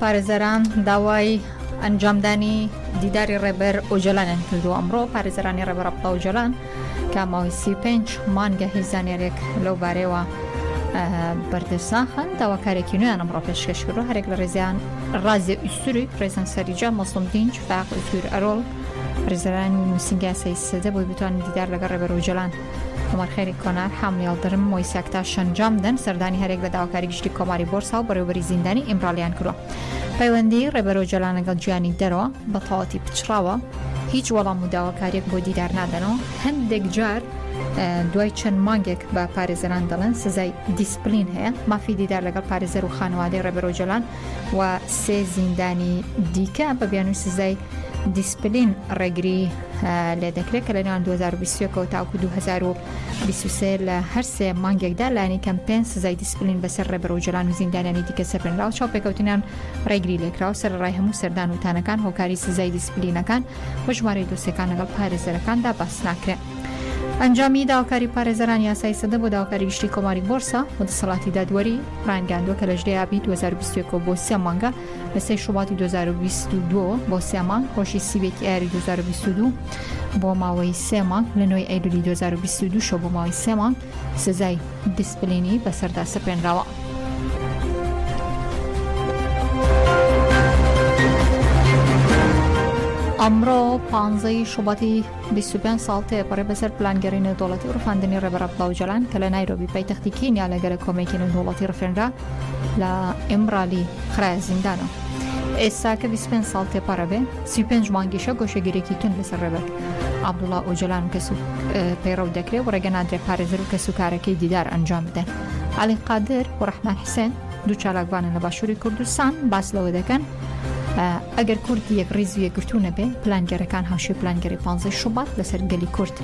پارێزەران داوای ئەنجامدانی دیداری ڕێبەر ئۆجەلانیان کردووە ئەمڕۆ پارێزەرانی ڕێبەر عەبدوڵا ئۆجەلان کە ماوەی سی و پێنج مانگە هیچ زانیارییەک لەو بارەیەوە بەردەست ناخەن داواکارێکی نوێیان ئەمڕۆ پێشکەش کردو هەرێک لە ڕێزیان ڕازێ ئیسوری ڕێزان سەریجا مەسڵم دینج فاق ئیسور ئەرۆڵ ڕێزەرانی نووسینگە یاسایی سەدە بۆی بتوانن دیدار لەگەڵ ڕێبەر ئۆجەلان عومەر خێری کۆنار، حامل یڵدرم، مۆیساک تا شەنجام دەن سەردانی هەریەک لە داواکاری گشتی کۆماری بۆرسا و بەڕێوبەری زیندانی ئیمرالیان کردوە. پەیوەندی ڕێبەر ئۆجالان لەگەڵ جیهانی دەرەوە بە تەواوەتی پچڕاوە، هیچ وەڵام و داواکاریەک بۆ دیدار نادەنەوە، هەندێک جار دوای چەند مانگێک بە پارێزەران دەڵێن سزای دیسپلین هەیە، مافی دیدار لەگەڵ پارێزەر و خانەوادەی ڕێبەر ئۆجالان و سێ زیندانی دیکە بە بیانوی سزای دیسپلین ڕێگری لێ دەکرێت کە لە نێوان 2021ەوە تاوکو 2023 لە هەر سێ مانگێکدا لانی کەم پێ سزای دیسپلین بەسەر ڕێبەر و جلان و زیندانانی دیکە سەرپێنراو چاو پێکەوتنان ڕێگری لێکراو سەر ڕای هەموو سەردان وتانەکان هۆکاری سزای دیسپلینەکان بە ژمارەی دۆسیەکان لەگەڵ پارێزەرەکاندا باس ناکرێن. ئەنجامی داواکاری پارێزەران یاسای سەدە بۆ داواکاری گشتی کۆماری بۆرسا و دەسەڵاتی دادوەری ڕانگەاندووە کە لە ژێابی 2021 بۆ سێ مانگە لە سێ شوباتی دوو هەزار و بیست و دوو بۆ سێ مانگ، ڕۆژی سی و یەکی ئایاری دوو هەزار و بیست و دوو بۆ ماوەی سێ مانگ، لە نۆی ئەیلولی دوو هەزار و بیست و دوو شەوە بۆ ماوەی سێ مانگ سزای دیسپلینی بەسەردا سەپێنراوە. ئەمڕۆ پانزەی شوباتی بیست و پێنج ساڵ تێپەڕی بەسەر پلانگێڕی نێودەوڵەتی و ڕفاندنی ڕێبەر عەبدوڵا ئۆجالان کە لە نایرۆبی پایتەختی کینیا لە گەرە کۆمەکی نێودەوڵەتی ڕفێنرا لە ئیمرالی خرایە زیندانەوە. ئێستا کە 25 ساڵ تێپەڕە بێ 35 مانگیشە گۆشەگیرێکی تون لەسەر ڕێبەر عەبدوڵا ئۆجالان و کەس و پەیڕەو دەکرێت و ڕێگە نادرێت پارێزەر و کەس و کارەکەی دیدار ئەنجام بدەن. عەلی قادر و ڕەحمان حسێن دوو چالاکوانن لە باشووری کوردستان باس لەوە دەکەن، ئەگەر کورد یەک ڕیز و یەکگرتوو نەبێ پلانگێرەکان هاوشێ پلانگەری پانزەی شوبات لەسەر گەلی کورد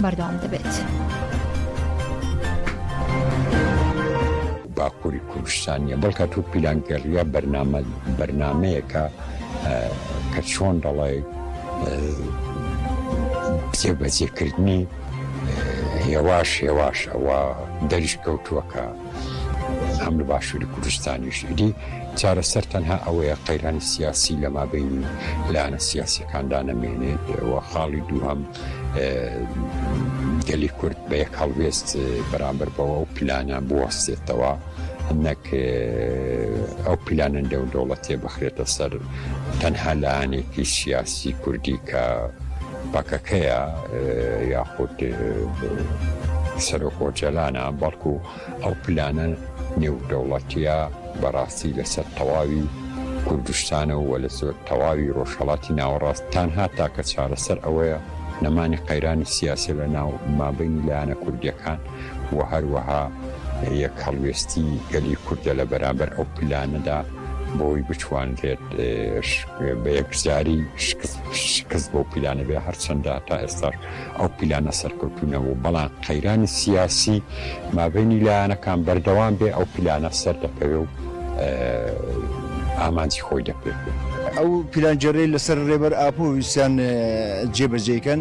بەردەوام دەبێت. باکووری کوردستانیە بەڵکە تو پیلانگەڕە بەرنامە بەرنمەیەەکە کە چۆن دەڵێ جێبەجێکردنی هێواش هێواش ئەوە دەریش کەوتووەکە. هەم لە باشووری کوردستانیش. ئیدی چارەسەر تەنها ئەوەیە قەیرانی سیاسی لە مابەینی لایەنە سیاسیەکاندا نەمێنێت و خاڵی دووهەم گەلی کورد بە یەک هەڵوێست بەرامبەر بەوە و پلانە بوەستێتەوە نەک ئەو پیلانە نێو دەوڵەتێ بخرێتە سەر تەنها لایەنێکی سیاسی کوردی کە پەکەکەیە یاخود سەرۆک ئۆجەلانە بەڵکو ئەو پلانە نێودەوڵەتیە بەڕاستی لەسەر تەواوی کوردستانە و لە زۆر تەواوی ڕۆژهڵاتی ناوەڕاست تانها تاکە چارەسەر ئەوەیە نەمانی قەیرانی سیاسی لە ناو مابینی لایەنە کوردیەکان و هەروەها یەک هەڵوێستی گەلی کوردە لە بەرامبەر ئەو پلانەدا بۆی بتوانرێت بە یەکجاری شکست بۆ پیلانە بێ هەرچەندە تا ئێستاش ئەو پیلانە سەرکەوتونەوە بەڵام قەیرانی سیاسی مابینی لایەنەکان بەردەوام بێ ئەو پیلانە سەر دەکەوێ و ئامانجی خۆی دەپێت. ئەو پیلانجێڕەی لەسەر ڕێبەر ئاپۆ ویستیان جێبەجێکەن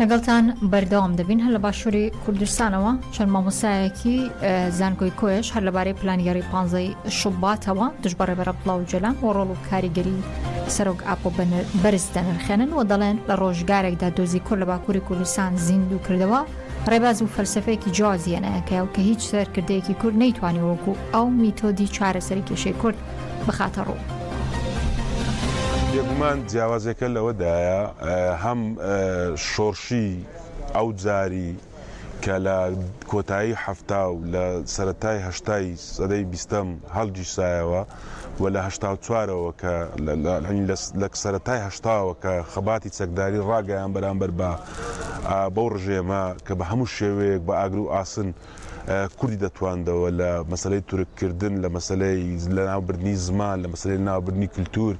لەگەڵتان بەردەوام دەبین هەر لە باشووری کوردستانەوە چەند مامۆسایەکی زانکۆی کۆیش هەر لەبارەی پلانگەری پانزەی شوباتەوە دژبڕێ بەرە بڵاو جەلان و ڕۆڵ و کاریگەری سەرۆک ئاپۆ بەرز دەنرخێنن و دەڵێن لە ڕۆژگارێکدا دۆزی کورد لە باکووری کوردستان زیندوو کردەوە ڕێباز و فەلسفەیەکی جوازیەنەکە و کە هیچ سەرکردەیەکی کورد نەیتوانانی وەکو ئەو میتۆدی چارەسەری کێشەی کورد بخاتە ڕوو. بێگومان جیاوازیەکە لەوەدایە هەم شۆڕشی ئەو جاری کە لە کۆتایی حەفتا و لە سەرەتای هەشتای سەدەی بیستەم هەڵگیرسایەوە و لە هەشتا و چوارەوە کە لە سەرەتای هەشتاوە کە خەباتی چەکداری ڕاگەیان بەرامبەر بە بەو ڕژێمە کە بە هەموو شێوەیەک بە ئاگر و ئاسن کوردی دەتواندەوە لە مەسەلەی تورک کردن لە مەسەلەی لە ناوبردنی زمان لە مەسەلەی ناوبردنی کللتور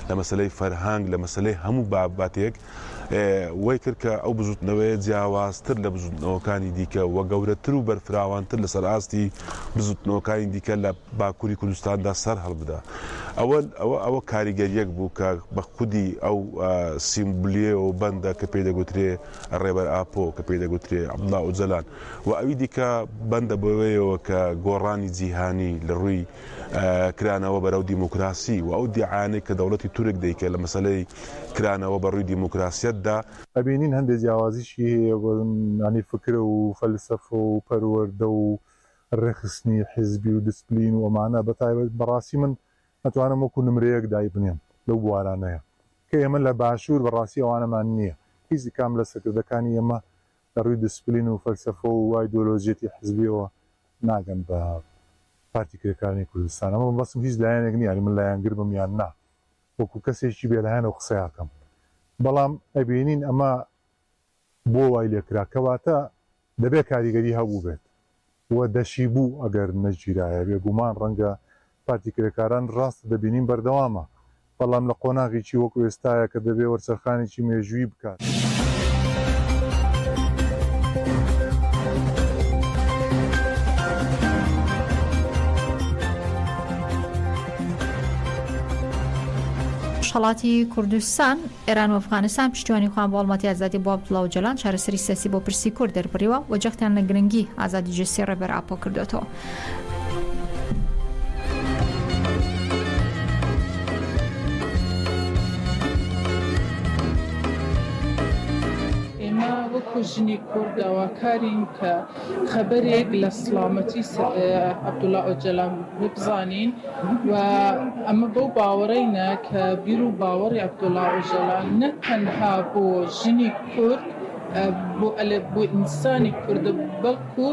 لە مەسەلەی فەرهەنگ لە مەسەلەی هەموو باباتێک وەی کرد کە ئەو بزوتنەوەیە جیاوازتر لە بزوتنەوەکانی دیکە وە گەورەتر و بەرفراوانتر لەسەر ئاستی بزوتنەوەکانی دیکە لە باکووری کوردستاندا سەر هەڵبدا ئەوە ئەوە ئەوە کاریگەریەک بوو کە بە خودی ئەو سیمبلیەوە بەندە کە پێی دەگوترێ ڕێبەر ئاپۆ کە پێی دەگوترێ عبدڵا ئۆجەلان و ئەوی دیکە بەندە بەوەیەوە کە گۆڕانی جیهانی لە ڕووی کرانەوە بەرەو دیموکراسی و ئەو دیعانەی کە دەوڵەتی تورک دەیکە لە مەسەلەی کرانەوە بە ڕووی دیموکراسیەتدا ئەبینین هەندێ جیاوازیشی هەیە بەیانی فکرە و فەلسەفە و پەروەردە و ڕێکخستنی حیزبی و دسپلین و ئەمانە بە تایبەت بەڕاستی من ئەتوانم وەکو نمرەیەک دایبنێم لەو بوارانەیە کە ئێمە لە باشور بەڕاستی ئەوانەمان نیە هیچ کام لە سەکردەکانی ئێمە لە ڕووی دسپلین و فەلسەفە و ئایدۆلۆژیەتی حزبیەوە ناگەن بە پارتی کرێکارانی کوردستان، ئەمە مەبەستم هیچ لایەنێک نیە، یانی من لایەنگر بم یان نا، وەکو کەسێکی بێلایەن ئەو قسەی ئەکەم، بەڵام ئەبینین ئەمە بۆ وای لێکرا، کەواتە دەبێت کاریگەری هەبووبێت، و دەشیبوو ئەگەر نەگیرایە بێگومان ڕەنگە پارتی کرێکاران ڕاست دەبینین بەردەوامە بەڵام لە قۆناغیکی وەکو ئێستایە کە دەبێ وەرچەرخانیکی مێژووی بکات. ڕۆژهەڵاتی کوردستان ئێران و ئەفغانستان پشتیوانی خۆیان بۆ هەڵمەتی ئازادی بۆ عەبدوڵا ئۆجالان، چارەسەری سیاسی بۆ پرسی کورد دەربڕیوە و جەختیان لە گرنگی ئازادی جەستەی ڕێبەر ئاپۆ کردۆتەوە. ئێمە وەکو ژنی کورد داواکارین کە خەبەرێک لە سڵامەتی عەبدوڵا ئۆجەلان بزانین و ئەمە بەو باوەڕەینە کە بیر و باوەڕی عەبدوڵا ئۆجەلان نەک تەنها بۆ ژنی کورد بۆ ئەلێ بۆ ئینسانی کوردە بەڵکو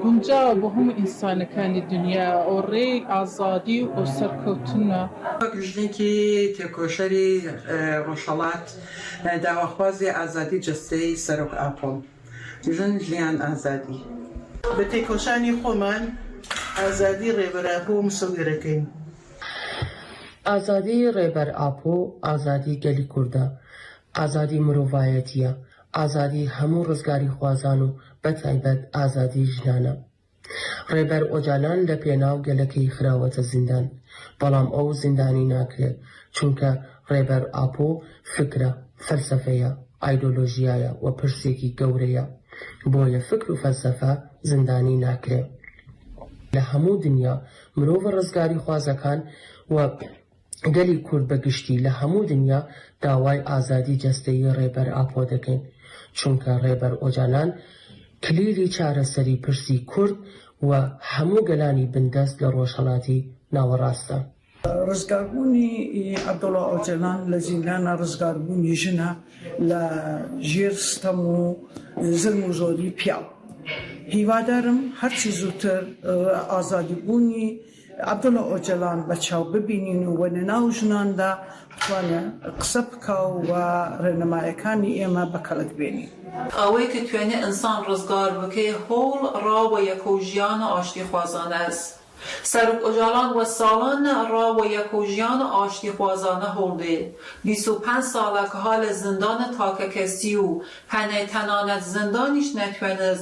گونجاوە بۆ هەموو ئینسانەکانی دنیا و ڕێی ئازادی و سەرکەوتنە. وەک ژنێکی تێکۆشەری ڕۆژهەڵات، داواخوازی ئازادی جەستەیی سەرۆک ئاپۆ، ژن، ژیان، ئازادی. بە تێکۆشانی خۆمان ئازادی ڕێبەر ئاپۆ مسۆگەرەکەین. ئازادی ڕێبەر ئاپۆ ئازادی گەلی کوردە، ئازادی مرۆڤایەتییە، ئازادی هەموو ڕزگاریخوازان و بەتایبەت ئازادی ژنانە. ڕێبەر ئۆجالان لە پێناو گەلەکەی خراوەتە زیندان، بەڵام ئەو زیندانی ناکرێ، چونکە ڕێبەر ئاپۆ فکرە، فەلسەفەیە، ئایدۆلۆژیایە و پرسێکی گەورەیە، بۆیە فکر و فەلسەفە زیندانی ناکرێ. لە هەموو دنیا مرۆڤە ڕزگاریخوازەکان و گەلی کورد بە گشتی لە هەموو دنیا داوای ئازادی جەستەیی ڕێبەر ئاپۆ دەکەین، چونکە ڕێبەر ئۆجالان کلیلی چارەسەری پرسی کورد و هەموو گەلانی بندەست لە ڕۆژهەڵاتی ناوەڕاستە. ڕزگاربوونی عەبدوڵا ئۆجەلان لە زیندانە ڕزگاربوونی ژنە لە ژێر ستەم و زلم و زۆری پیاو. هیوادارم هەرچی زووتر ئازادیبوونی عەبدوڵا ئۆجەلان بە چاو ببینین و وە لەناو ژناندا بتوانێ قسە بکا و وە ڕێنمایەکانی ئێمە بە کەڵک بێنین. ئەوەی کە توێنێ ئنسان ڕزگار بکەێ هۆڵ ڕا وە یەکەو ژیانە ئاشتی خوازانەس. سەرۆک ئۆجالان وە ساڵانە ڕا وە یەکەو ژیانە ئاشتی خوازانە هۆڵ دێ. بیست و پەنج ساڵە کە ها لە زندانە تاکە کەسی و هەنێ تەنانەت زندانیش نەتوێنس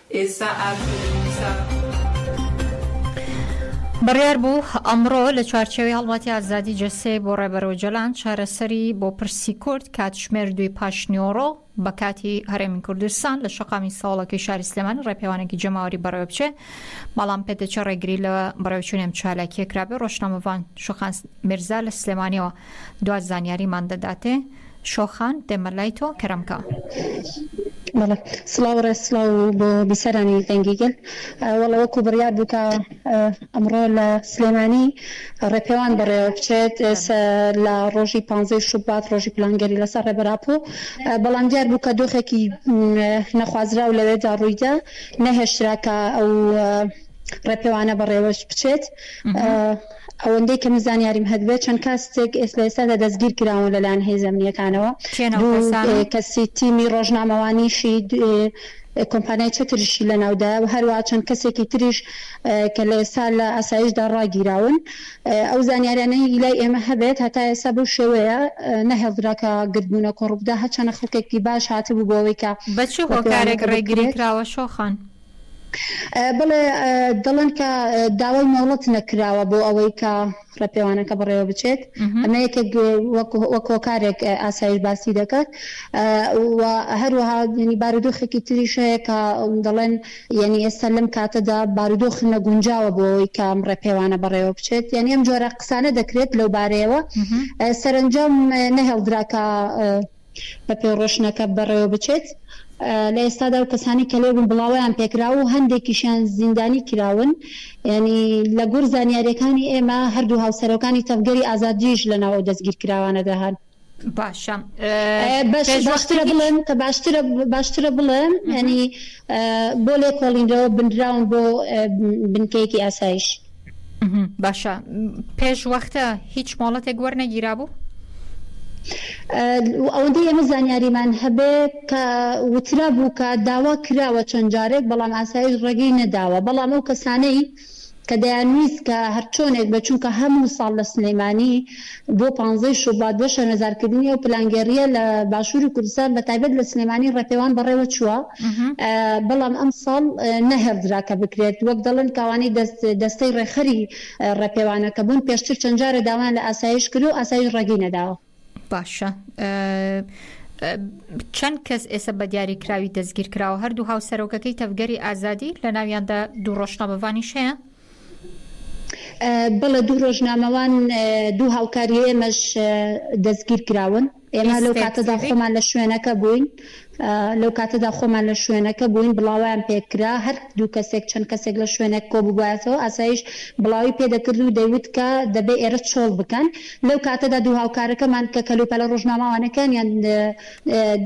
ئێستا ئاکرێ مووسا. بڕیاربوو ئەمڕۆ لە چوارچێوەی هەڵمەتی ئازادی جەستەیەک بۆ ڕێبەر ئۆجەلان چارەسەری بۆ پرسی کورد کاتژمێر دووی پاشنیوەڕۆ بە کاتی هەرێمی کوردستان لە شەقامی سەوڵەکەی شاری سلێمانی ڕێپێوانێکی جەماوەری بەڕێوەبچێ بەڵام پێدەچێ ڕێگری لە بەڕێوچوونی ئەم چالاکیە کرابێ ڕۆژنامەڤان شوخان میرزا لە سلێمانیەوە دوا زانیاریمان دەداتێ شۆخان دێمە لای تۆ کەرەم کا. بەڵێ سڵاو ڕێز سڵاو بۆ بیسەرانی دەنگی گەل وەڵا وەکو بڕیار بوو کە ئەمڕۆ لە سلێمانی ڕێپێوان بەڕێوە بچێت لە ڕۆژی پانزەی شوبات ڕۆژی پلانگەری لەسەر ڕێبەر ئاپۆ بەڵام دیار بوو کە دۆخێکی نەخوازراو لەوێدا ڕوویدا نەهێشترا کە ئەو ڕێپێوانە بەڕێوەش بچێت ئەوەندەی کە من زانیاریم هەتبێت چەند کاستێک لە ئێستادا دەستگیر کراون لەلایەن هێز ئەمنییەکانەوە، کێن ئەو دوو کەسانە؟ کەسی تیمی ڕۆژنامەوانیشی کۆمپانیای چەتریشی لەناودایە و هەروەها چەند کەسێکی تریش کە لە ئێستا لە ئاسایشدا ڕاگیراون. ئەو زانیاریانەی لای ئێمە هەبێت هەتا ئێستا بەو شێوەیە نەهێڵدرا کە گردبوونە کۆڕبگا، هەرچەنە خەڵکێکی باش هاتبوو بۆ ئەوەی کە بە چ هۆکارێک ڕێگری کراوە شۆخان؟ بەڵێ دەڵێن کە داوای مۆڵەت نەکراوە بۆ ئەوەی کە ڕێپێوانەکە بەڕێوە بچێت ئەمە یەکێک وەک هۆکارێک ئاسایش باسی دەکات و هەروەها ینی بارودۆخێکی تریش هەیە کە دەڵێن یعنی ئێستا لەم کاتەدا بارودۆخ نەگونجاوە بۆ ئەوەی کام ڕێپێوانە بەڕێوە بچێت یعنی ئەم جۆرە قسانە دەکرێت لەو بارەیەوە سەرنجام نەهێڵدراکە بەپێی ڕۆشنەکە بەڕێوە بچێت. لە ئێستادا ئەو کەسانەی کە لێبوون بڵاوەیان پێکراوە و هەندێکیشیان زیندانی کراون. یانی لە گوڕ زانیارییەکانی ئێمە هەردوو هاوسەرۆکانی تەڤگەری ئازادیش لە ناو ئەو دەستگیرکراوانەدا هەن. باشە باشترە بڵێم کە باشترە باشترە بڵێم یانی بۆ لێکۆڵینەوە بنراون بۆ بنکەیەکی ئاسایش. باشە پێش وەختە هیچ مۆڵەتێک وەرنەگیرا بوو؟ ئەوەندەی ئێمە زانیاریمان هەبێ کە وترا بوو کە داوا کراوە چەند جارێک بەڵام ئاسایش ڕێگەی نەداوە بەڵام ئەو کەسانەی کە دەیانویست کە هەرچۆنێک بە چونکە هەموو ساڵ لە سلەیمانی بۆ پانزە ی شوبات بۆ شەرمەزارکردنی ئەو پلانگێڕییە لە باشووری کوردستان بە تایبەت لە سلێمانی ڕێپێوان بەڕێوە چووە بەڵام ئەمساڵ نەهێڵدرا کە بکرێت وەک دەڵێن کە ئەوانەی دەستەی ڕێکخەری ڕێپێوانەکە بوون پێشتر چەند جارە داوایان لە ئاسایش کرد و ئاسایش ڕێگەی نەداوە. باشە چەند کەس ئێستا بە دیاریکراوی دەستگیرکراوە هەردوو هاوسەرۆکەکەی تەڤگەری ئازادی لە ناویاندا دوو ڕۆژنامەڤانیش هەیە؟ بەڵێ دوو رۆژنامەوان دوو هاوکاری ئێمەش دەستگیرکراون. ئێمە لەو کاتەدا خۆمان لە شوێنەکە بووین لەو کاتەدا خۆمان لە شوێنەکە بووین بڵاوەیان پێکرا هەر دوو کەسێک چەند کەسێک لە شوێنێک کۆببوایەتەوە ئاسایش بڵاوی پێدەکرد و دەیوت کە دەبێ ئێرە چۆڵ بکەن لەو کاتەدا دوو هاوکارەکەمان کە کەلوپەلە رۆژنامەوانەکانیان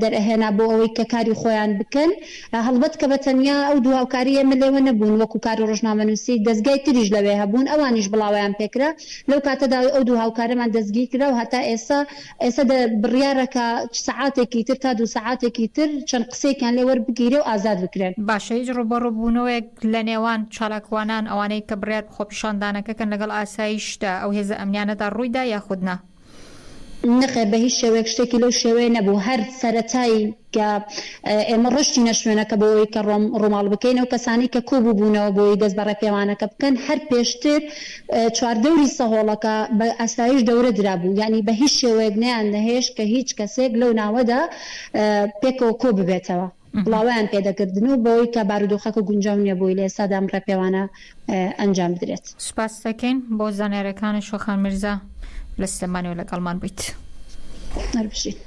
دەرئەهێنا بۆ ئەوەی کە کاری خۆیان بکەن، هەڵبەت کە بە تەنیا ئەو دوو هاوکاری ئێمە لێوە نەبوون، وەکو کار و ڕۆژنامەنووسی دەزگای تریش لەوێ هەبوون، ئەوانیش بڵاوەیان پێ کرا، لەو کاتەدا ئەو دوو هاوکارەمان دەستگیر کرا و هەتا ئێستا ئێستا دە بڕیارە کە چ سەعاتێکی تر تا دوو سەعاتێکی تر چەند قسەیەکیان لێ وەربگیرێ و ئازاد بکرێن. باشە هیچ ڕووبەڕوو بوونەوەیەک لە نێوان چالاکوانان، ئەوانەی کە بڕیار بە خۆپیشاندانەکە کەن لەگەڵ ئاسایشدا، ئەو هێزە ئەمنیانەدا ڕووی دا یاخود نا؟ نەخێر بەهیچ شێوەیەک شتێکی لەو شێوەیە نەبوو هەر سەرەتای کە ئێمە ڕۆشتینە شوێنەکە بۆوەی کە ڕۆم ڕوماڵ بکەین ئەو کەسانی کە کۆ بوبونەوە بۆوەی دەست بە ڕێپێوانەکە بکەن هەر پێشتر چوار دەوری سەهۆڵەکە بە ئاسایش دەورە درابوو یانی بەهیچ شێوەیەک نەیان نەهێشت کە هیچ کەسێک لەو ناوەدا پێکەوە کۆ ببێتەوە. بڵاوەیان پێ دەکردن و بەوەی کە بارودۆخەکە گونجاو نییە بۆی لە ئێستادا ئەم ڕێپێوانە ئەنجام بدرێت. سپاست دەکەین بۆ زانیاریەکانت شۆخان میرزا لە سلێمانیەوە لەگەڵمان بوویت. هەر بژیت.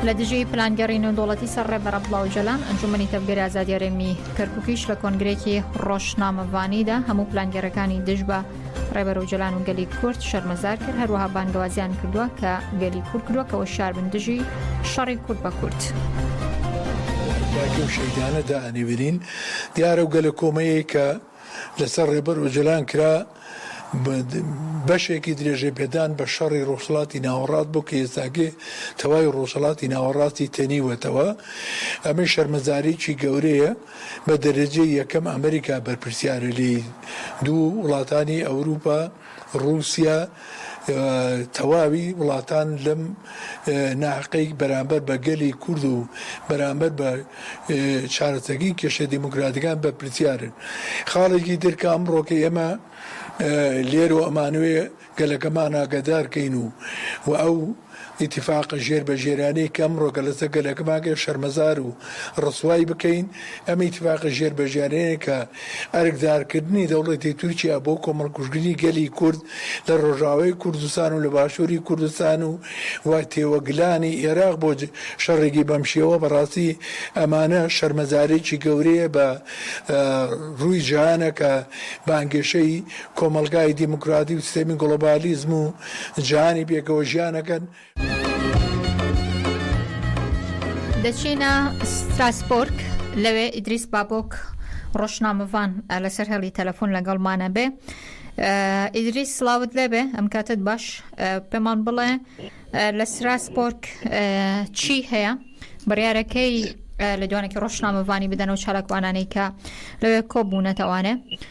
لە دژی پلانگەڕی نێودوڵەتی سەر ڕێبەرە بڵاو جەلان ئەنجومنی تەڤگەری ئازادیارێمی کەرککیش لە کۆنگرێکی ڕۆژنامەڤانیدا هەموو پلانگەرەکانی دژ بە ڕێبەر ئۆجەلان و گەلی کورد شەرمەزار کرد هەروەها بانگەوازیان کردووە کە گەلی کورد کرۆکەوە شاربن دژی شەڕی کورد بە کورد. و شەیدانە دا ئەنیبرین دیارە و گەلە کۆمەیە کە لەسەر ڕێبەر ئۆجلان کرا بەشێکی درێژە پێدان بە شەڕی ڕۆژهڵاتی ناوەڕات بۆ کە ئێستاگێ تەوای ڕۆژهڵاتی ناوەڕاستی تەنیوەتەوە ئەمەی شەرمەزاریی گەورەیە بە دەرەجەی یەکەم ئەمریکا بەرپرسیارە لێی، دوو وڵاتانی ئەوروپا، ڕوسیا و تەواوی وڵاتان لەم ناحەقەی بەرامبەر بە گەلی کورد و بەرامبەر بە چارەسەکەی کێشە دیموکراتیەکان بەرپرسیارن. خاڵێکی تر کە ئەمڕۆکە ئێمە لێرۆ ئەمانەوێ گەلەکەمان ئاگادار کەین و و ئەو ئیتیفاقە ژێر بە ژێرانەی کە ئەمڕۆ کە لەسەر گەلەکەمان کە شەرمەزار و ڕسوای بکەین ئەم ئیتیفاقە ژێر بە ژێرانەی کە ئەرکدار کردنی دەوڵەتی تورکیا بۆ کۆمەڵ کوژتنی گەلی کورد لە ڕۆژاوای کوردستان و لە باشوری کوردستان و و تێوەگلانی ئێراق بۆ شەڕێکی بەم شێوە بە ڕاستی ئەمانە شەرمەزارێکی گەورەیە بە ڕووی جیهانە کە بانگەشەی کۆمەڵگای دیموکراتی و سیستەمی گڵۆبالیزم و جیهانی پێکەوە ژیان ئەکەن. دەچینە ستراسبۆرگ، لەوێ ئیدریس بابۆک ڕۆژنامەڤان لەسەر هێڵی تەلەفۆن لەگەڵمانە بێ. ئیدریس سڵاوت لێبێ ئەم کاتت باش پێمان بڵێ لە ستراسبۆرگ چی هەیە بڕیارەکەی لە دوانێکی ڕۆژنامەڤانی بدەن و چالاکوانانەی کە لەوێ کۆبوونەتەوانێ.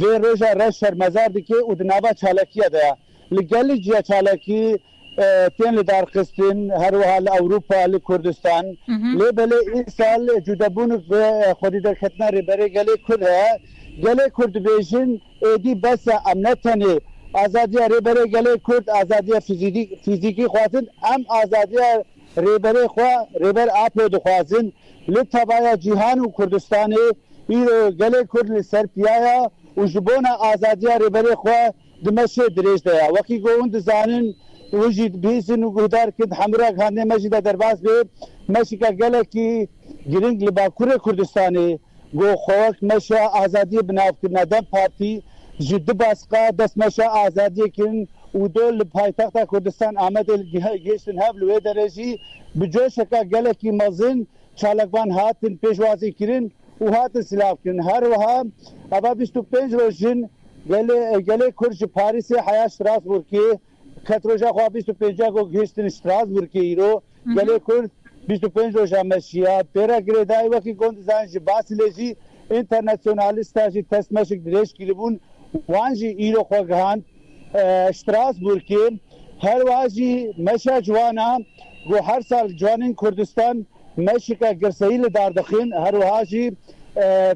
دێ رێژا رە شەرمەزار دکێ و دناڤا چالاکییە دە ل گە ل جیا چالاکی تێن لە دار خستن هە روەها لە ئەوروپا ل کوردستان. لێ بە لێ ئی سال جودە بوونک ڤێ خودی دەر کەتنە رێ بە رێ گە لێ کورد هە یە. گە لێ کورد دبێژن ئێدی بە سە ئەم نە تە نێ ئازادییە رێ بە رێ گە لێ کورد ئازادییە فیزیکی خوازن ئەم ئازادییە رێبەرێ خوا رێبەر ئاپۆ دخوازن لە تەڤایا جیهان و کوردستانێ ئیرۆ گەلێ کورد لە سەر پیایا و ژ بۆنا ئازادیا رێبەرێ خوا دمەشێ درێژ دەیا وەکی گۆون دزانن و ژید بیسن و گوهدار کد هەمراگ هاندێ مەژی دە دەرباز بێ مەشکە گەلەکی گرنگ لە باکورێ کوردستانێ گو خوەک مەشە ئازادیە بناو کرنە دەم پارتی ژ د باسقە دەس مەشە ئازادیە کرن و دۆ ل پایتەختە کوردستان ئامەدێ ل گێشتن هەڤ ل وێ دەێ ژی ب جۆشەکە گەلەکی مەزن چالاکڤان هاتن پێشوازی کرن و هاتن سلاو کرن هەر وەها ئەڤا بیست و پەنج رۆژ ژن گەلێ کورد ژ پاریسێ حەیا شراس ورکێ کەت رۆژا خوا بیست و پێنجا گۆ گهشتن شتراسبورگ ی ئیرۆ گەلێ کورد بیست و پێنج رۆژا مەشیە پێرا گرێدای وەکی گۆند زان ژی باس لێ ژی ئینتەرنەسیۆنالیستا ژی تەس مەشک درێژ کیلبون وان ژی ئیرۆ خۆ گهاند شتراسبورگ ی هەر وا ژی مەشا جوانا گۆ هەر سال جوانین کوردستان مەشکە گرسەیل دار دخین هەر وها ژی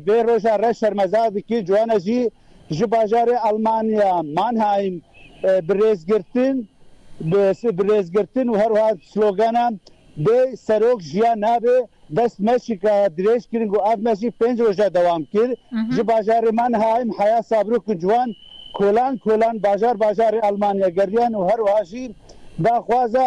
بێ رۆژا رەش شەرمەزار دکی جوانا ژی ژ باژارێ ئەڵمانیا، مانهایم، ب رێزگرتن، بس ب رێزگرتن و هەروها سلۆگانە بێ سەرۆک ژیان نابێ، دەست مەشی ک درێژ کرن گۆ ئاڤ مەشی پێنج رۆژە دەوام کر. ژ باژارێ مانهایم، حەیا سابرو ک جوان کۆلان کۆلان باژار باژارێ ئەڵمانیا گەریان و هەروها ژیر داخوازە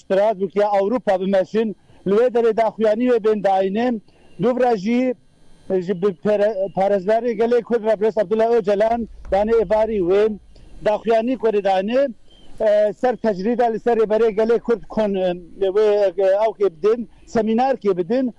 ستراسبورگ یا ئەوروپا بمەشن لوێ دەێ داخویانی وێ بێن داینێن دوبرە ژی ژ ب پارێزگاری گەلێ کورد رەبرێس عەبدولا ئۆجەلان دانێ ئێڤاری وێن داخویانی کۆێ دانێ سەر تەجریدا لە سەرێ بەێ گەلێ کورد کۆن وێ ئەو کێ بدن سەمینار کێ بدن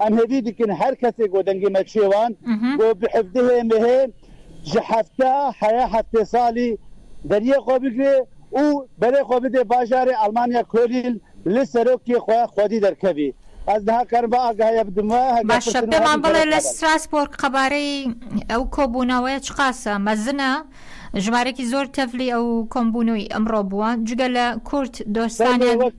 ئەم هێڤی دکن هەر کەسێک وە دەنگی مەکشێوان گۆ بحفدهێ مهێ ژە هەفتە هەیە هەفتێ سالی دەریێ خۆ بگرێ ئوو بەرێ خۆ بدێ باژارێ ئەڵمانیا کۆلیل ل سەرۆک کێ خۆ خۆدی دەرکەڤی ئەز نها کارم ڤە ئاگە هەیە بدمە هەگە باشە پرسن و پێمان هەڤی بڵێ کەرەک لە نابەن. ستراسبۆرگ قەبارەی ئەو کۆبوونەوەیە چ قاسە مەزنە؟ ژمارەێکی زۆر تەڤلی ئەو کۆمبوونەوەی ئەمڕۆ بووە جگە لە کورد دۆستانیان. بەێ وەک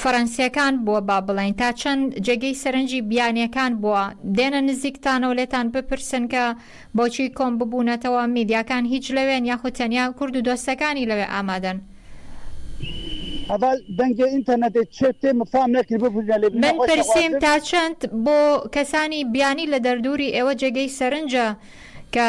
فەرەنسیەکان بووە با بڵین تا چەند جێگەی سەرنجی بیانیەکان بووە دێنە نزیکتانەوە لێتان بپرسن کە بۆچی کۆم ببوونەتەوە میدیاکان هیچ لەوێن یاخود تەنیا کورد و دۆستەکانی لەوێ ئامادەن. ئەڤال دەنگێ ئینتەرنەتێ چێ تێ مفام نەکرد بپرینە لێ من پرسیم تا چەند بۆ کەسانی بیانی لە دەردووری ئێوە جێگەی سەرنجە کە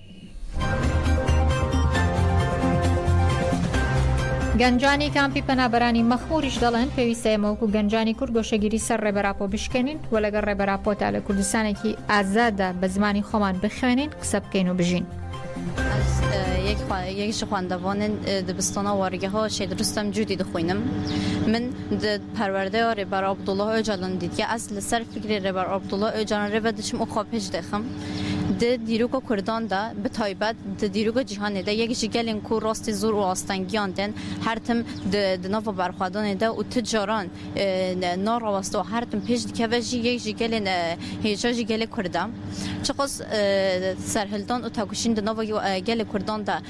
گەنجانی کامپی پەنابەرانی مەخموریش دەڵێن پێویستە ئێمە وەکو گەنجانی کورد گۆشەگیری سەر ڕێبەر ئاپۆ بشکێنین و لەگەڵ ڕێبەر ئاپۆدا لە کوردستانێکی ئازاددا بە زمانی خۆمان بخوێنین قسە بکەین و بژین. یەکیش خواندەوانن دبستانە وەڕگەها شێ دروستم جوودی دخوینم من پەروەردەی ڕێبەر عەبدوڵڵا ئۆجالان دیدگە ئەس لەسەر فکری ڕێبەر عەبدوڵڵا ئۆجالان ڕێبەر دچم و خۆ پێش دێخم د دیروکە کوردان دە، بە تایبەت د دیروکە جیهانێ دە، یەک ژی گەلێن کو راستێ زور و ئاستەنگیان دێن، هەرتم د د ناڤ بەرخوەدانێ دە و ت جاران نا راوەستە و هەرتم پێش دکەێ ژی، یەک ژی گەلێن هێژا ژی گەلێ کوردە. چقاس سەرهلدان و تەکوشین د ناڤ گەلێ کوردان دە،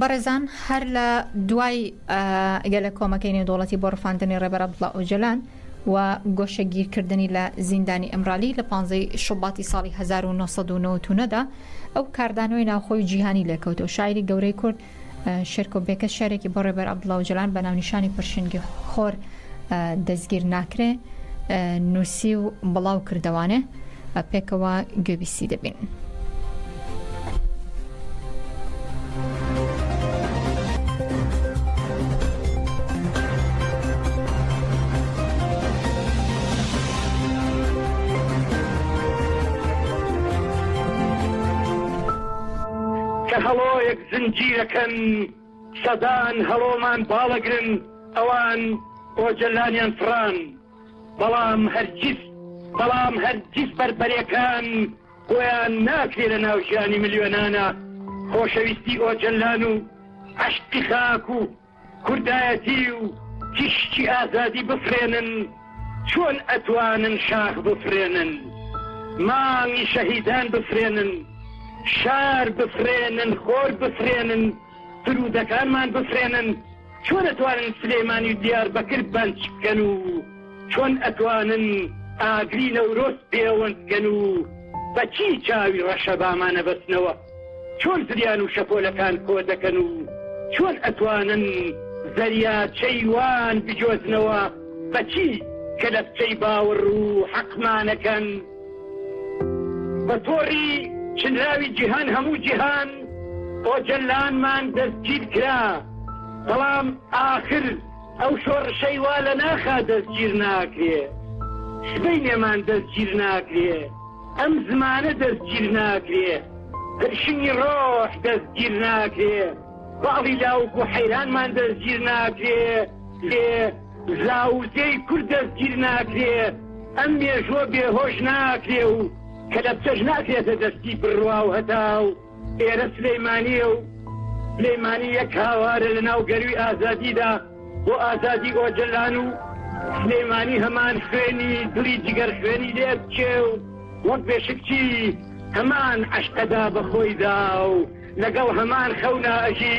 بەڕێزان هەر لە دوای گەلە کۆمەکەی نێودوڵەتی بۆ ڕفاندنی ڕێبەر عبدڵە ئۆجلان و گۆشەگیرکردنی لە زیندانی ئەمرالی لە 15 شوباتی ساڵی 1990دا ئەو کاردانەوەی ناوخۆی جیهانی لێکەوتەوە شاعری گەورەی کورد شێرکۆ بێکەس شێرێکی بۆ ڕێبەر عەبدوڵا ئۆجالان بە ناونیشانی پرشنگی خۆر دەستگیر ناکرێ نووسی و بڵاو کردوانێ پێکەوە گوێبیستی دەبین. کە هەڵۆیەک زنجیرەکەن سەدان هەڵۆمان باڵەگرن ئەوان ئۆجەلانیان فڕان بەڵام هەرگیز بەڵام هەرگیز بەربەرەکان بۆیان ناکرێ لە ناو ژیانی ملیۆنانە خۆشەویستی ئۆجەلان و عەشقی خاک و کوردایەتی و تیشکی ئازادی بفرێنن چۆن ئەتوانن شاخ بفرێنن مانگی شەهیدان بفرێنن شار بفرێنن خۆر بفرێنن فرودەکانمان بفرێنن چۆن ئەتوانن سلێمانی دیار بەکرد بەنج بکەن و چۆن ئەتوانن ئاگری نەورۆز پێوەندکەن و بەچی چاوی ڕەشەبامانە بەستنەوە چۆن زریان و شەپۆلەکان کۆدەکەن و چۆن ئەتوانن زەریاچەی وان بجۆزنەوە بەچی کەلەپچەی باوڕ و حەقمانەکەن بە تۆڕی چنراوی جیهان هەموو جیهان ئۆجەلانمان دەستگیرکرا بەڵام ئاخر ئەو شۆڕشەی وا لەناخا دەستگیرناکرێ سبەینێمان دەستگیرناکرێ. ئەم زمانە دەستگیر ناکرێ پرشنگی ڕۆح دەستگیر ناکرێ باڵی لاوک و حەیرانمان دەستگیر ناکرێ لێ زاوزێی کورد دەستگیر ناکرێ ئەم مێژووە بێهۆش ناکرێ و کەلەپچەش ناکرێتە دەستی بڕوا و هەتاو. ئێرە سلیمانیە و سلیمانی یەک هاوارە لە ناو گەروی ئازادیدا بۆ ئازادی ئۆجلان و سلیمانی هەمان خوێنی دڵی جگەر خوێنی لێبچێ و وەک بێشکچی هەمان عشقەدا بەخۆیدا و لەگەڵ هەمان خەونا ئەژی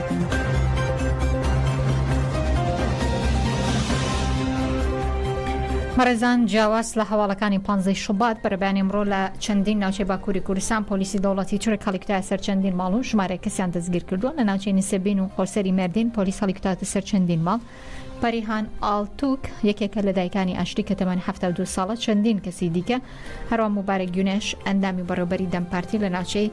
بەڕێزان جیاواز لە هەواڵەکانی پانزەی شوبات بەرەبانی ئمڕۆ لە چەندین ناوچەی باکووری کوردستان پۆلیسی دەوڵەتی تورک هەڵیکوتایە سەر چەندین ماڵ و ژمارەیە کەسیان دەستگیر کردووە لە ناوچەی نسێبین و خۆسەری مێردین پۆلیس هەڵیکوتاتە سەر چەندین ماڵ پەریهان ئالتوک یەکێکە لە دایکانی ئاشتی کە تەمەن حەفتا و دوو ساڵە، چەندین کەسی دیکە هەروە موبارەک گونێش ئەندامی بەڕێوبەری دەم پارتی لە ناوچەی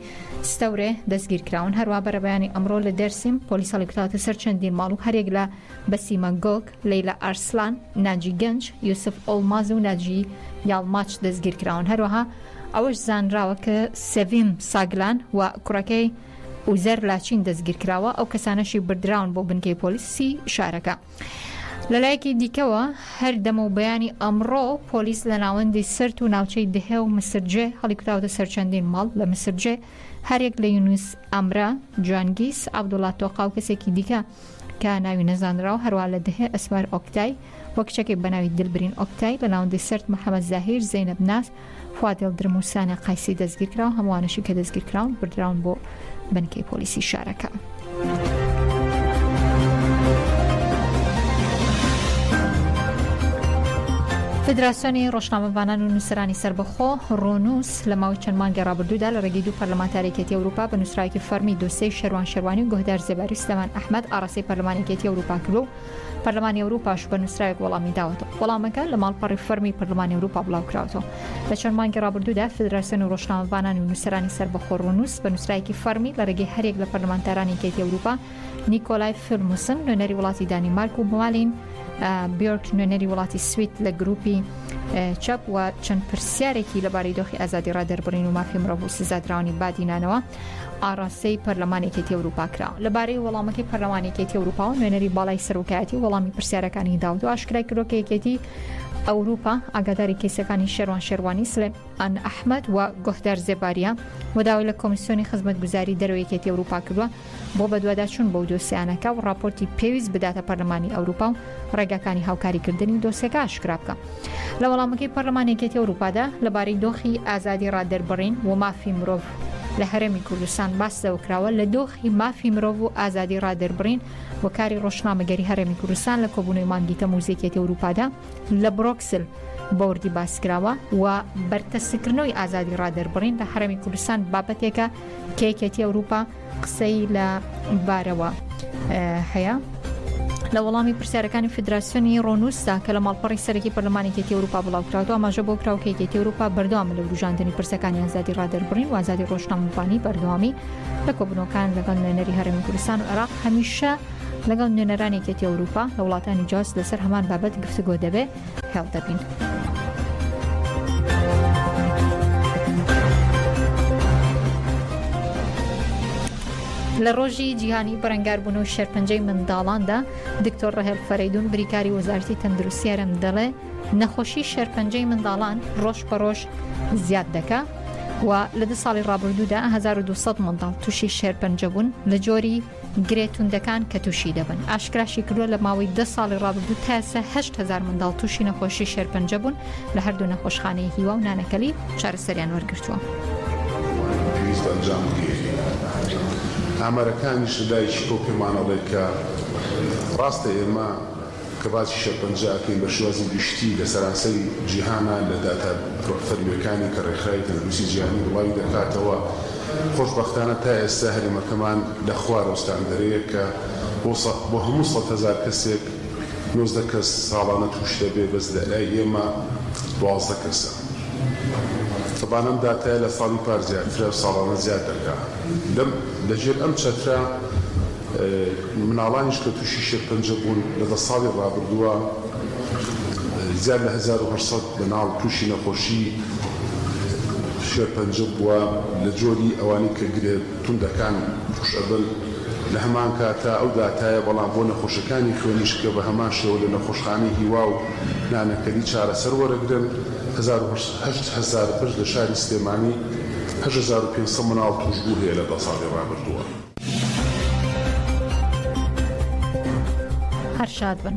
ستەورێ دەستگیرکراون، هەروە بەرەبەیانی ئەمڕۆ لە دێرسیم پۆلیس هەڵیکوتاوەتە سەر چەندین ماڵ و هەریەک لە بەسیمە گۆک، لەیلا ئارسلان، ناجی گەنج، یوسف ئۆڵماز و ناجی یاڵماچ دەستگیرکراون، هەروەها ئەوەش زانراوە کە سێڤیم ساگلان و کوڕەکەی، ئوزەر لاچین دەستگیرکراوە، ئەو کەسانەشی بردراون بۆ بنکەی پۆلیسی شارەکە. لەلایەکی دیکەوە، هەر دەمەو بەیانی ئەمڕۆ پۆلیس لە ناوەندی سرت و ناوچەی دهێ و مسرجێ هەڵیکوتاوەتە سەر چەندین ماڵ، لە مسرجێ هەریەک لە یونس ئەمرە، جانگیس، عەبدوڵا تۆقا و کەسێکی دیکە کە ناوی نەزانراوە، هەروەها لە دهێ ئەسمەر ئۆکتای، و کچەکەی بە ناوی دلبرین ئۆکتای بە ناوەندی سەرت محەمەد زاهیر زەینەب ناز فواد یڵدرم و سانە قایسی دەستگیر کراون هەمووانەشی کە دەستگیر کراون بردراون بۆ بنکەی پۆلیسی شارەکە. فدراسیۆنی ڕۆژنامەڤانان و نووسرانی سربەخۆ ڕۆنووس لە ماوەی چەند مانگی ڕابردوودا لە ڕێگەی دوو پەرلەمانتارێکێتی ئەوروپا بە نووسراوێکی فەرمی دۆسیەی شەروان شەروانی و گۆهدار زێباری و سلێمان ئەحمەد ئاڕاستەی پەرلەمانێکێتی ئەوروپا کردووە و پەرلەمانی ئەوروپاش بە نووسراوێک وەڵامی داوەتەوە وەڵامەکە لە ماڵپەڕی فەرمی پەرلەمانی ئەوروپا بڵاوکراوەوە لە چەند مانگی ڕابردوودا فدراسیۆن و ڕۆژنامەڤانانی و نووسەرانی سربەخۆ ڕونووس بە نووسراایکی فەرمی لە ڕێگەی هەرێک لە پەرلەمانتارانی کەیتی ئەوروپا نیکۆلای فیلموسن نوێنەری وڵاتی دانی مارک و بوالین بیۆرک نوێنەری وڵاتی سویت لە گروپی چەپ و چەند پرسیارێکی لەبارەی دۆخی ئازادی ڕادربڕین و مافی مرۆڤ و سزادراونی بادینانەوە ئاڕاستەی پەرلەمان یەکێتی ئەوروپا کرا لەبارەی وەڵامەکەی پەرلەمان یەکێتی ئەوروپا و نوێنەری باڵای سەرۆکایەتی وەڵامی پرسیارەکانی داوت و ئاشکرای کرۆ کە یەکێتی ئەوروپا ئاگاداری کەیسەکانی شێروان شێروانی سلێم ئەن ئەحمد و گۆهدار زێباریە و داوای لە کۆمیسیۆنی خزمەت گوزاری دەرەوەیەکێتی ئەوروپا کردووە بۆ بەدواداچون بەو دۆسیانەکە و راپۆرتی پێویست بداتە پەرلەمانی ئەوروپا و ڕێگاکانی هاوکاریکردنی دۆسێکە ئاشکرا بکە. لە وەڵامەکەی پەرلەمانی یەکێتی ئەوروپادا لەبارەی دۆخی ئازادی ڕادەربڕین و مافی مرۆڤ لە هەرێمی کوردستان باس لەوە کراوە لە دۆخی مافی مرۆڤ و ئازادی ڕادەربڕین و کاری ڕۆژنامەگەری هەرێمی کوردستان لە کۆبوونەوەی مانگی تەمووزی یەکێتی ئەوروپادا لە برۆکسل بەوردی باسکراوە و بەرتەسکردنەوەی ئازادی ڕادەربڕین لە هەرێمی کوردستان بابەتێکە کە یەکێتی ئەوروپا قسەی لە بارەوە هەیە. لە وەڵامی پرسیارەکانی فدراسیۆنی ڕۆنووسدا کە لە ماڵپەڕی سەرەکی پەرلەمانی کێتی ئەوروپا بڵاوکراوە ئاماژە بۆ کراو کە یەکێتی ئەوروپا بەردەوام لە وروژاندنی پرسەکانی ئازادی ڕادەربڕین و ئازادی ڕۆژنامەڤانی بەردەوامی لە کۆبنەوەکان لەگەڵ نوێنەری هەرێمی کوردستان و عێراق هەمیشە لەگەڵ نوێنەرانی کێتی ئەوروپا لە وڵاتانی جاست لەسەر هەمان بابەت گفتوگۆ دەبێت هێڵ دەبین. لە ڕۆژی جیهانی بەرەنگاربوون و شێرپەنجەی منداڵاندا دکتۆر ڕهێل فەرەیدون بریکاری وەزارتی تەندروسیارم دەڵێ نەخۆشی شێرپەنجەی منداڵان ڕۆژ بە ڕۆژ زیاد دەکا و لە دە ساڵی ڕابردوودا 1200 منداڵ تووشی شێرپەنجە بوون لە جۆری گرێ توندەکان کە تووشی دەبن ئاشکراشی کردووە لە ماوەی دە ساڵی ڕابردوو تا ئێستا هەشت هەزار منداڵ تووشی نەخۆشی شێرپەنجە بوون لە هەردوو نەخۆشخانەی هیوا و نانەکەلی چارەسەریان وەرگرتووە. پێویستە ئەنجام بدرێت ئامارەکانیش لە لای شکۆ پێمانەڵێت کە ڕاستە ئێمە کە باسی شێرپەنجە ئەکەین بە شێوازی گشتی لە سەرانسەری جیهانا لە داتا فەرمیەکانی کە ڕێکخراوی تەندروستی جیهانی بڵاوی دەکاتەوە خۆش بەختانە تا ئێستا هەرێمەکەمان لە خوارەوە ستاندەرەیە کە بۆ سە بۆ هەموو سەد هەزار کەسێک نۆزدە کەس ساڵانە تووش دەبێ بەس لە لای ئێمە دوازدە کەسە تەبان ئەم داتایە لە ساڵی پار زیاترە ساڵانە زیاد دەکا. لەم لە ژێر ئەم چەترە مناڵانیش کە تووشی شێرپەنجە بوون لە دە ساڵی ڕابردووە زیاد لە هەزار و هەشت سەد مناڵ تووشی نەخۆشی شێرپەنجە بووە لە جۆری ئەوانەی کە گرێ توندەکان تووش ئەبن لە هەمان کاتە ئەو داتایە بەڵام بۆ نەخۆشەکانی خوێنیش کە بە هەمان شێوە لە نەخۆشخانەی هیوا و نانەکەلی چارەسەر وەرەگرن هەزار و هەشت هەزار پشت لە شاری سلێمانی هەشت هەزار و پێنج سەد مناڵ تووشبوو هەیە لە دە ساڵی ڕابردووە. هەر شاد بن.